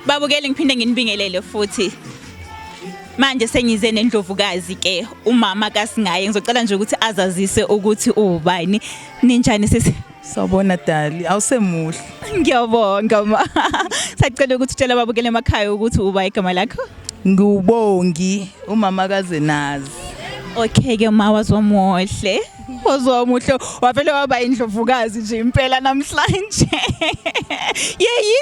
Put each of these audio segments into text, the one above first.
Babukeli ngiphinde nginibingelele futhi. Manje sengize nendlovukazi ke umama kasingaye ngizocela nje ukuthi azazise ukuthi uwubani ninjani sisi Sawubona Dali, awusemuhle. Ngiyabonga ma. Sacela ukuthi utshela babukele emakhaya ukuthi uba igama lakho. Ngubongi umama kaZenazi. Okay ke ma wazomuhle. Phozwa umuhle wavele waba indlovukazi nje impela namhlanje. Yeyi.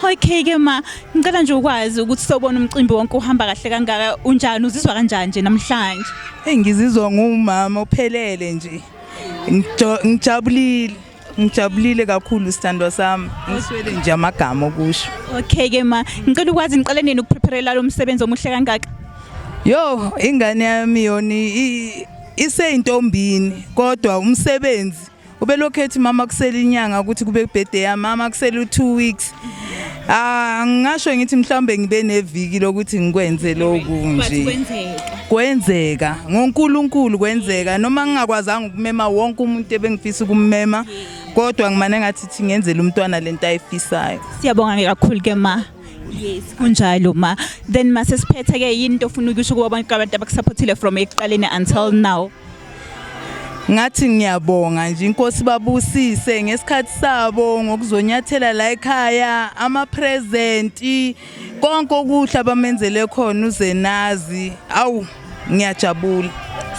Okay ke ma, ngicela nje ukwazi ukuthi sobona umcimbi wonke uhamba kahle kangaka unjani uzizwa kanjani nje namhlanje? Hey ngizizwa ngumama ophelele nje. Ngijabulile. ngijabulile kakhulu sithandwa sami ngiswele nje amagama okusho okay ke ma ngicela ukwazi niqale nini ukuprepare lo msebenzi omuhle kangaka yo ingane yami yona iseyintombini kodwa umsebenzi ubelokhu ethi mama kusele inyanga ukuthi kube birthday yami mama kusele u2 weeks Ah ngisho ngithi mhlawumbe ngibe neviki lokuthi ngikwenze lokhu nje. Kwenzeka ngoNkulunkulu kwenzeka noma ngingakwazanga ukumema wonke umuntu ebengifisa ukumema kodwa ngimane ngathi thi ngenzele umntwana lento ayifisayo. Siyabonga ke kakhulu ke ma. Yes kunjalo ma. Then mase siphethe ke yini into ofuna ukusho kuba abantu abakusupportile from ekuqaleni until now. ngathi ngiyabonga nje inkosi babusise ngesikhathi sabo ngokuzonyathela la ekhaya ama present konke okuhle abamenzele khona uzenazi awu ngiyajabula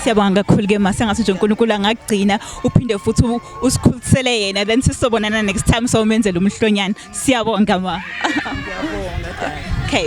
siyabonga kakhulu ke ma sengathi nje uNkulunkulu angagcina uphinde futhi usikhulisele yena then sisobonana next time sawumenzela umhlonyana siyabonga ma okay